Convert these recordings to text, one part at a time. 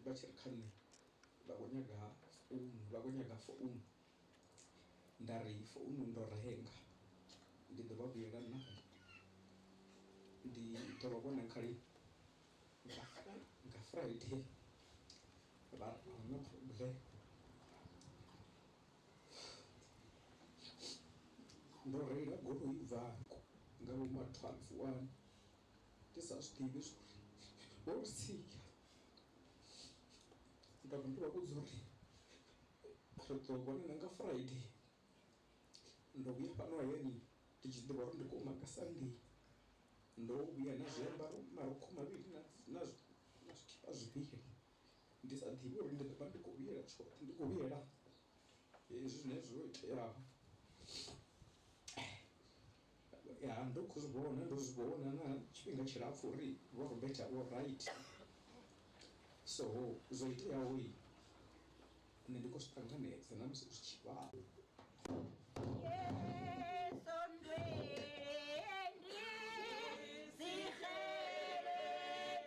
vha tshi ri kha nṋe vha kho nyaga founu vha kho nyaga founu nda ri founu ndo renga ndi ḓo vha vhuyelwa nayo ndi ḓo vha vhona nga lini nga friday vha ri ahuna phurobuḽeme ndo reila goloi ubva hafho nga vho ma twelve wani. ndi sa zwi ḓivhi zwori vho ntsia nda vha ndo vha vhudza uri ri ḓo vhonana nga Friday ndo vhuya fhano hayani ndi tshi ḓivha uri ndi khou maka Sunday ndo vhuya na zwiambaro marukhu mavhili na na zwikipa zwivhili ndi sa ḓivhi uri ndi ḓo vha ndi khou vhuyela tshoṱhe ndi khou vhuyela hezwi zwine zwo iteaho. Ya, ndo khou zwi vhona, ndo zwi vhona na tshifhinga tshilapfu uri Vho Robert a vho right. So, zwo iteaho i, nṋe ndi khou zwi ṱanganedza na musi zwi tshi vhavha.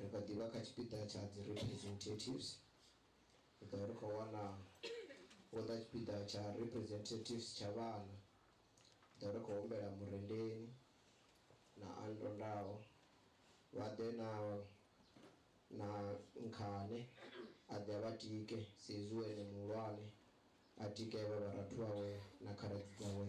Ri kha ḓi vha kha tshipiḓa tsha dzi representatives. Ri ḓo vha ri khou wana vho ḓa tshipiḓa tsha representatives tsha vhana. Ri ḓo vha ri khou humbela Murendeni na Antondaho vha ḓe na na Nkhane a ḓe a vha tike sa izwi hu ene muhulwane, a tike vha vharathu vhawe na khaladzi dzawe.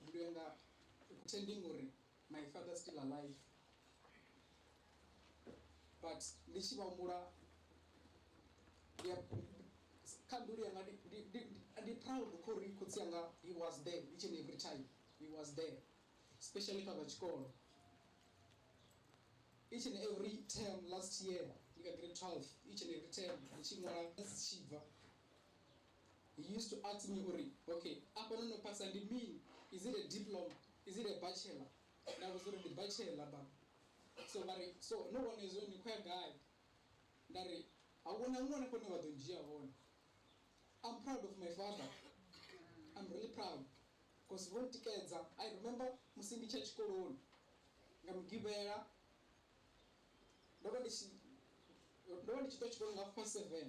Mbilu yanga i khou tending uri my father still alive but ndi tshi vha humbula ndi a kha mbilu yanga ndi- ndi- ndi- ndi- ndi proud kho uri khotsi yanga he was there each and every time he was there especially kha zwa tshikolo each and every term last year ndi kha grade 12 each and every term ndi tshi ṅwala tshibva He used to ask me uri, Ok, afha no no phasa ndi mini? Is it a diploma? Is it a bachelor? Nda vhudza uri, Ndi bachelor baba. So vha ri, So no wana hezwo ni khou ya gai? Nda ri, A hu na huṅwe na hune vha ḓo ndzhia hone. I'm proud of my father, I'm really proud cause vho ntikedza. I remember musi ndi tshi ya tshikoloni nga Mugivhela, ndo vha ndi tshi, ndo vha ndi tshi ṱuwa tshikoloni nga half past seven.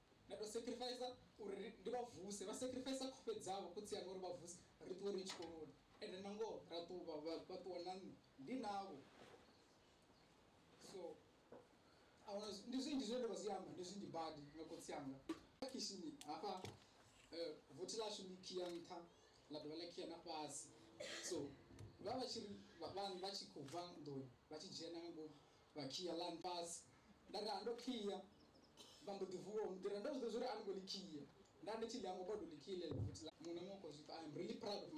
Na tou sacrificer uri ri, ndi vha vuse. Vha sacrificer khofhe dzavho, khotsi anga, uri vha vuse ri ṱuwe ri ye tshikoloni. Ende nangoho ra ṱuwa, vha, vha, vha ṱuwa na nṋe ndi navho. So, a huna, ndi zwinzhi zwine nda nga zwi amba, ndi zwinzhi badi nga khotsi anga. Khishini hafha, vothi ḽashu ḽi khia nṱha ḽa dovha ḽa khia na fhasi. So, vha vha vha tshi ri, vha, vha, vha tshi khou bva nḓuni vha tshi dzhena nga ngomu, Vha kia ḽa nfhasi. Nda raha ndo kia. Vha mbo ḓi vuwa u nḓira. Ndo zwi ḓivha zwa uri a ni ngo ḽi kia. Nda ndi tshi ḽi hangwa bodo ḽi kia ḽeḽo futhi ḽa. Muṅwe na muṅwe u khou zwi pfa. I am really proud of my.